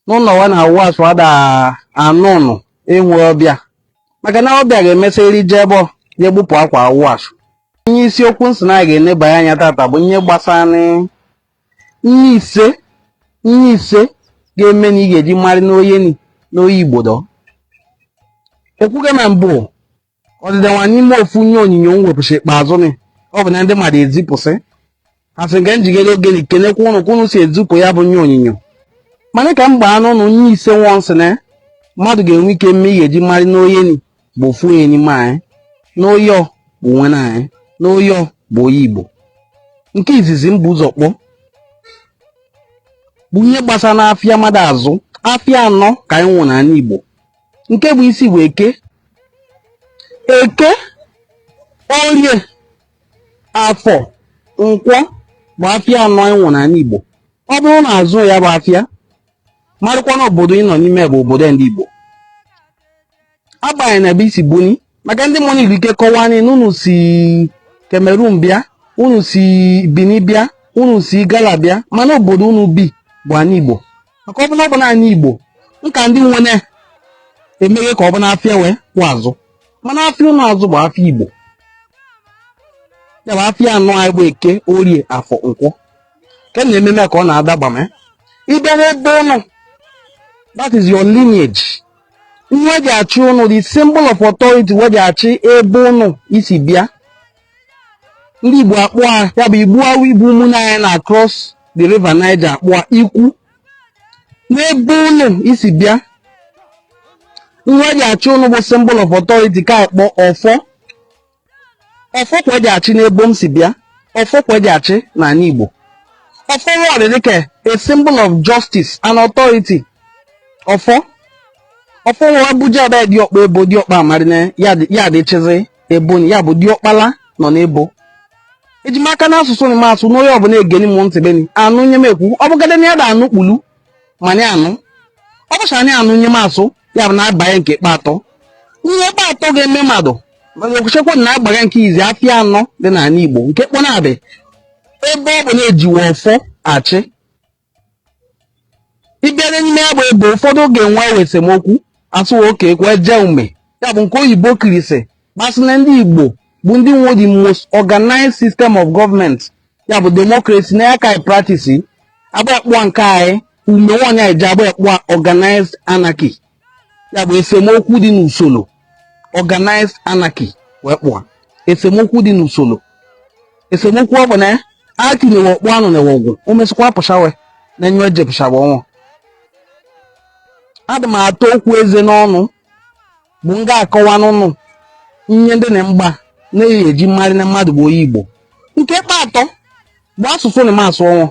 n'ụnọ wa na-awụ ashụ ada anụ ụnụ enwe ọbịa maka na ọbịa ga-emesị eri je ebe ọ ya egbupụ akwa awụ ashụ ihe isiokwu m sị na anyị ga-enebanye anya tata bụ ihe gbasara ihe ise ihe ise ga-eme na ị ga-eji marị n'onye ni n'onye igbodo ekwuga na mbụ ọdịda nwa n'ime ofu ihe onyinyo m wepụsị ikpeazụ ni ọ bụ na ndị mmadụ ezipụsị asị nke m ji ewere oge ni kenekwa ụnụ ka ụnụ si ezipụ ya bụ ihe onyinyo mana ka m gbaa n'ụnụ ihe ise nwa m sị na mmadụ ga-enwe ike me ihe eji marị n'onye ni bụ ofu onye n'ime anyị n'onye ọ bụ nwanne anyị n'onye ọ bụ onye igbo nke izizi m bu ụzọ kpọọ bụ ihe gbasara n'afịa mmadụ azụ afịa anọ ka anyị nwe n'anị igbo nke bụ isi bụ eke eke orie afọ nkwọ bụ afịa anọ anyị nwe n'anị igbo ọ bụrụ na azụ ya bụ afịa marakwa na obodo ị nọ n'ime bụ obodo ndị igbo agbanyeghị na ebe i si buni maka ndị mmụọ nwere ike kọwaa anyị na unu si Cameroon bịa unu si Benin bịa unu si Igala bịa mana obodo unu bi bụ anị Igbo maka ọ bụla ọ bụla anị Igbo nka ndị nwere emeghe ka ọ bụla afịa wee kwụ azụ mana afịa ụnụ azụ bụ afịa Igbo ya bụ afịa anọ anyị bụ eke orie afọ nkwọ ke na ememe ka ọ na-adagba ma ị bịa n'ebo ụnụ that is your lineage ihe eji achị ụnụ the symbol of authority we ji achị ebo ụnụ si bịa ndị Igbo akpọ a ya bụ Igbo ahụ bụ ụmụnne anyị nọ across the river Niger akpọ a ikwu n'ebo ụnụ si bịa ihe eji achị ụnụ bụ symbol of authority ka akpọ ọfọ ọfọ ka eji achị n'ebo m si bịa ọfọ ka eji achị n'anị igbo ọfọ wọrị dịka a symbol of justice and authority ọfọ ọfọ wa ebuje be diọkpa ebo diọkpa amarị na ya dị- ya dịchịzị ebo ya bụ diọkpala nọ n'ebo eji maka n'asụsụ na m asụ n'onye ọbụla egeni m ntị beni anụ ihe m ekwu ọ bụgada na ya da anụ kpulu mani anụ ọ bụcha anyị anụ ihe m asụ ya bụ na-abanye nke kpe atọ ihe kpe atọ ga-eme mmadụ okwuchekwa na agbaga nke izi afịa anọ dị n'anị Igbo nke kpọnadị ebe ọ bụ na-ejiwe ọfọ achị ịbịara n'ime ya bụ ebo ụfọdụ ga-enwe esemokwu asụwa oke ekwe jee ume ya bụ nke oyibo kwuri sị kpasị na ndị Igbo bụ ndị nwe the most organized system of government ya bụ democracy na ya ka anyị practice agba ekpụa nke anyị ume nwaanyị anyị ji agba ekpụa organized anarchy ya bụ esemokwu dị n'usoro organized anarchy wee kpọa esemokwu dị n'usoro esemokwu ọ bụ na aki na-ewe ọkpụ anụ na-ewe ọgwụ o mesịkwa pụchawe na enyo eje pụchaba ọnwụ adị m atọ okwu eze n'ọnụ bụ m ga-akọwa n'ụnụ ihe ndị na mgba na-eyi eji marị na mmadụ bụ onye Igbo nke kpa atọ bụ asụsụ m na-asụ ọnwụ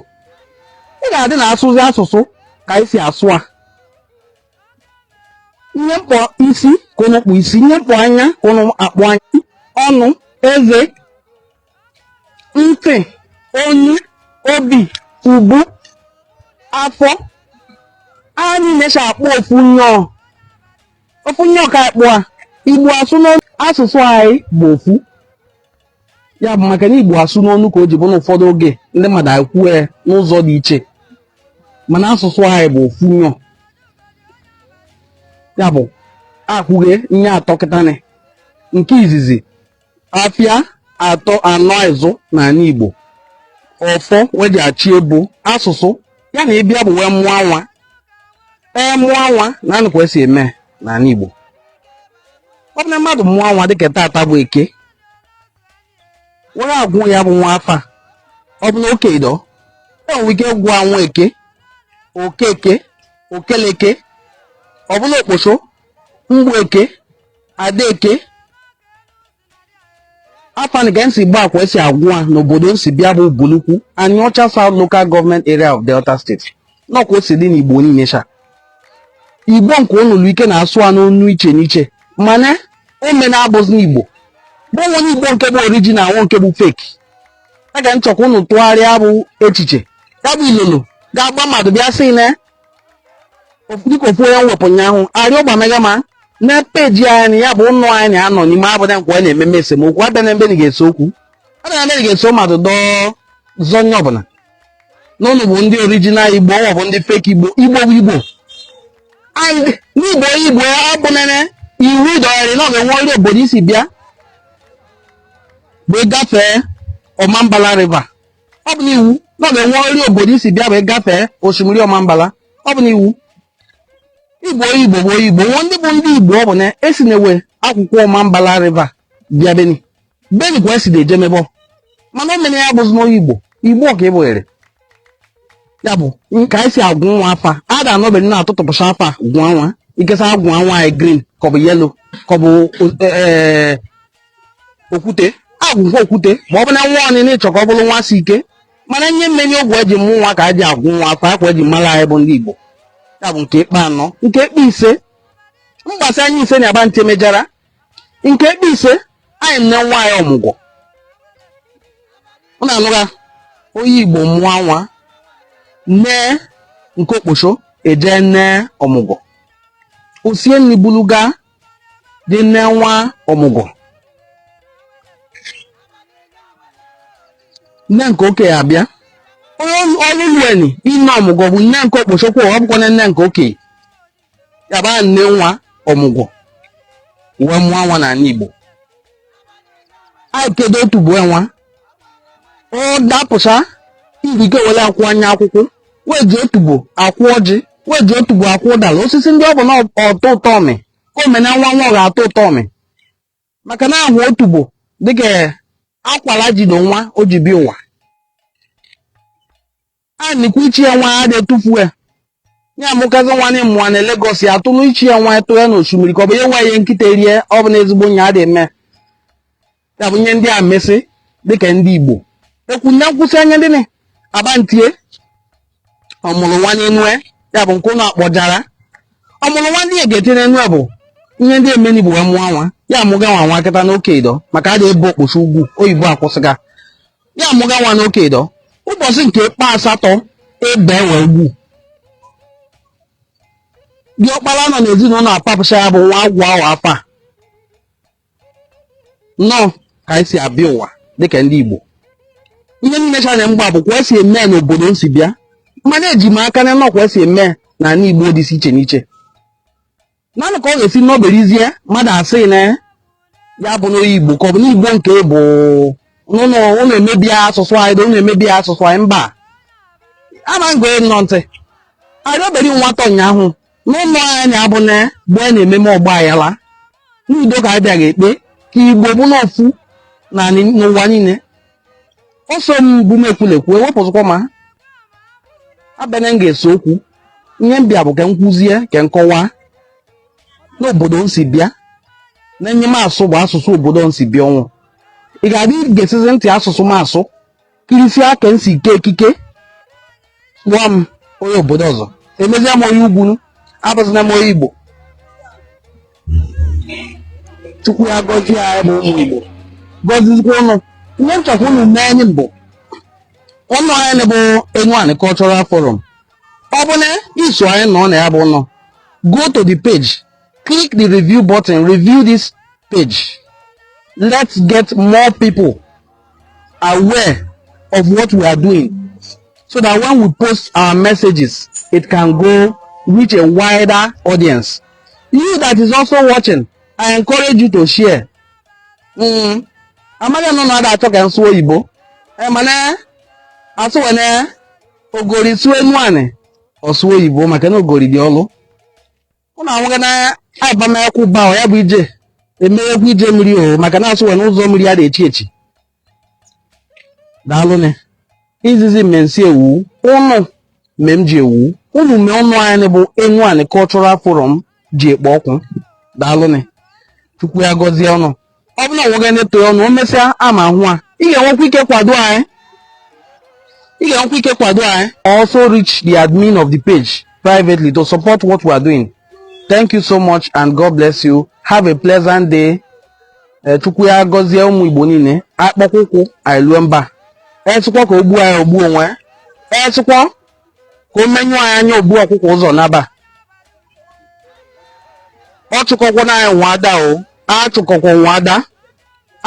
ị ga-adị na asụzi asụsụ ka anyị si asụ a ihe m kpọ isi ka ụnụ kpọ isi ihe m kpọ anya ka ụnụ akpọ anya ọnụ eze ntị onu obi ubu afọ anyị na-eche akpọ ofu nyọ ofu nyọ ka akpọ a igbo asụ n'ọnụ asụsụ anyị bụ ofu ya bụ maka na igbo asụ n'ọnụ ka o ji bụ na ụfọdụ oge ndị mmadụ ekwue ya n'ụzọ dị iche mana asụsụ anyị bụ ofu nyọ ya bụ akwụghe nye atọ kịtanị nke izizi afịa atọ anọ izu n'anị Igbo ọfọ we ji achị ebo asụsụ ya na ị bịa bụ wee mụọ nwa e mụọ nwa na anụkwa esi eme n'anị Igbo ọ bụ na mmadụ mụọ nwa dịka tata bụ eke we ga-agụ ya bụ nwa afa ọ bụ na okei dọ enwere ike gụa nweke okeke okeleke ọ bụ na okposo mgbeke adaeke afa ka nsi gba akwa esi agụ a n'obodo m si bịa bụ Ubulu-Uku Aniocha south local government area of delta state nọkwa o si dị n'igbo niile sha igbo nwelu ike na-asụ a n'onu iche n'iche mana ome na-abụzi na igbo gba enwe onye igbo nke bụ orijinal nwe nke bụ fake a ga nchọkwa ụnụ tụgharịa bụ echiche ya bụ ilolo ga-agba mmadụ bịa sị na dịka ofu onye wepụ ụnyaahụ arịọ gbamega ma na peji anyị na ya bụ ụnụ anyị na-anọ n'ime abụda nkwa anyị na-ememe esemokwu abịa na ebe ga-ese okwu abịa na ebe ga-ese mmadụ dọọ zọ onye ọ bụ na ụnụ bụ ndị orijinal igbo ọ bụ ndị fake igbo igbo bụ igbo and n'igbo igbo abụnene iwu dọgharị na ọ ga-enwe ọrịa obodo i si bịa wee gafee ọmambala river ọ bụ n'iwu na ọ ga-enwe ọrịa obodo i si bịa bụ ị gafee osimiri ọmambala ọ bụ n'iwu igbo igbo bụ igbo nwe ndị bụ ndị igbo ọ bụ na esi na-ewe akwụkwọ ọmambala riva bịa beni beni kwa esi na-eje mebọ mana o mere ya bụzi n'onye igbo igbo ka ị bụghere ya bụ ka anyị si agụ nwa afa a ga-anọbe nna atụtụpụcha afa gwa nwa ikesa agwa nwa anyị green ka ọ bụ yellow ka ọ bụ okwute agụkwa okwute ma ọ bụ na nwa ọnịna ịchọ ka ọ bụrụ nwa si ike mana ihe mere n'oge e ji mụ nwa ka e ji agụ nwa afa ọ kwa e ji mara anyị bụ ndị Igbo ya bụ nke ikpe anọ nke ikpe ise mgbasa anyị ise na-agba ntị mejara nke ikpe ise anyị ene nwaanyị ọmụgwọ ọ na-anụra onye Igbo mụọ nwa nne nke okposho eje ene ọmụgwọ osie nri bulu gaa dị ene nwa ọmụgwọ nne nke oke abịa o lulueni ine ọmụgwọ bụ nne nke okposho ọ bụkwa na nne nke oke ya bịa ne nwa ọmụgwọ wee mụọ nwa n'ala Igbo anyị kede otubo nwa ọ dapụcha irike were akụa nya akụkụ we ji otubo akụ ọjị we ji otubo akụ ụdara osisi ndị ọ bụ na ọtọ ụtọ ọmị ka omena nwa nwa ọ ga-atọ ụtọ ọmị maka na ahụ otubo dịka akwara jido nwa o ji bi ụwa a nikwu ichi ya nwa adị etufu ya ya amụkazi nwanyị mụa na Lagos ya atụrụ ichi ya nwa tụọ ya n'osimiri ka ọ bụ ya nwa ihe nkịta erie ọ bụ na ezigbo nya adị eme ya bụ ihe ndị a mesị dịka ndị igbo ekwu na nkwụsị anya ndị abantie ọmụrụ nwa n'enue ya bụ nke ụlọ akpọjara ọmụrụ nwa ndị ga-ete n'enue bụ ihe ndị emeni bụ wee mụọ nwa ya amụga nwa nwa kịta nwoke ido maka a na-ebe okposho ugwu oyibo akwụsịga ya amụga nwa nwoke ido ụbọchị nke kpa asatọ ebewe ugwu ọkpara nọ n'ezinụlọ apapụcha ya bụ nwa agụa ya afa nnọọ ka anyị si abịa ụwa dịka ndị Igbo ihe niile chanyere mgba bụ kwa esi eme n'obodo m si bịa mana eji m aka na nnọọ kwa esi eme na ala Igbo dị iche n'iche nanụ ka ọ ga-esi n'oberizie mmadụ asị na ya bụ onye Igbo ka ọ bụ n'Igbo nke bụ unu unu emebi asụsụ anyị unu emebi asụsụ anyị mba ama m gee unu ntị arị obere nwata ụnyaahụ n'ụlọ anyị abụ na mgbe a na-ememe ọgbaaghara n'udo ka anyị bịara ekpe ka igbo bụ n'ofu na ni- n'ụwa niile ọsọ m bụ m ekwulekwu wepụzịkwa m abịana m ga-ese okwu ihe m bịa bụ ka m kwuzie ka m kọwaa n'obodo m si bịa na ihe m asụ bụ asụsụ obodo m si bịa ọ bụ ị ga-adị gesizi ntị asụsụ m asụ kirisi aka m si ike ekike nwa m onye obodo ọzọ emezie m onye ugwu abụzina m onye igbo chukwu ya gọzie anyị bụ ụmụ igbo gọzizikwa ụnụ ihe m chọkwa ụnụ mee anyị mbụ ụlọ anyị bụ Enuani Cultural Forum ọ bụ na i so anyị nọ na ya bụ ụlọ go to the page click the review button review this page let's get more people aware of what we are doing so that when we post our messages, it can go reach a wider audience. You that is also watching, I encourage you to share. Mm. Amaghị nọ na-ada achọ ka m sụ oyibo. Eh, mana asụ wene ogori sụ Enuani ọ sụ oyibo maka na ogori dị ọlụ. ụnụ anwụghị na agbamakwụkwọ ụba ahụ ya bụ ije emeekwa ije mmiri o maka na a sị wa na ụzọ mmiri a na-echi echi daalụnị izizi me m si ewu ụnụ me m ji ewu ụnụ me ụnọ anyị bụ Enuani Cultural Forum ji ekpo ọkụ daalụnị chukwu ya gọzie ụnụ ọ bụrụ na onwe gị na-eto ọnụ o mesịa ama hụ a ị ga-enwekwa ike kwado anyị ị ga-enwekwa ike kwado anyị also reach the admin of the page privately to support what we are doing thank you so much and god bless you have a pleasant day Eh, chukwu ya gọzie ụmụ igbo niile akpọkwa ụkwụ anyị lue mba onye sịkwa ka o gbuo anyị o gbuo onwe onye sịkwa ka o menyụ anyị anya o bu ọkụkọ ụzọ naba ọchụ ọkụkọ na anyị nwe ada o ọchụ ọkụkọ nwe ada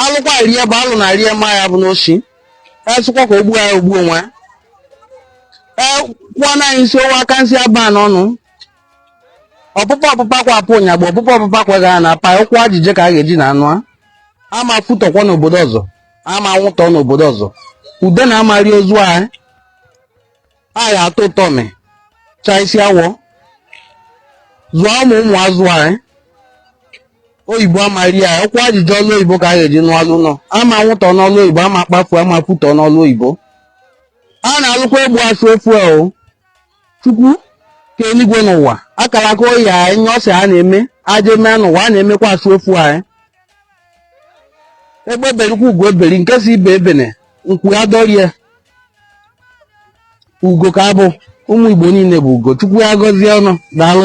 alụkwa rie bụ alụ na rie ma ya abụna osi onye sịkwa ka o gbuo ya o gbuo onwe ya ee kwụọ na anyị nsi owe aka nsị aba n'ọnụ ọpụpa ọpụpa kwa apụ ụnyagba ọpụpa ọpụpa kwa ga na apa ụkwụ a ji je ka a ga-eji na anụ a a ma futọkwa n'obodo ọzọ a ma nwụtọ n'obodo ọzọ udene ama ri ozu anyị a ya atọ atọ mị chaa isi awọ zụọ ụmụ ụmụ azụ anyị oyibo ama ri anyị ụkwụ a ji je ọlụ oyibo ka a ga-eji naa ụnọ a ma nwụtọ n'ọlụ oyibo a ma kpafu a ma futọ n'ọlụ oyibo a na-alụkwa egbu asụ ofu a o chukwu ke eluigwe na ụwa akara aka oyi anyị nye ọsị a na-eme a ja-eme n'ụwa a na-emekwa asụ ofu anyị egbe berikwa ugo eberi nke sị ibe ebene nku ya dọrie ugo ka a bụ ụmụ igbo niile bụ ugo chukwu ya gọzie ụnụ daalụ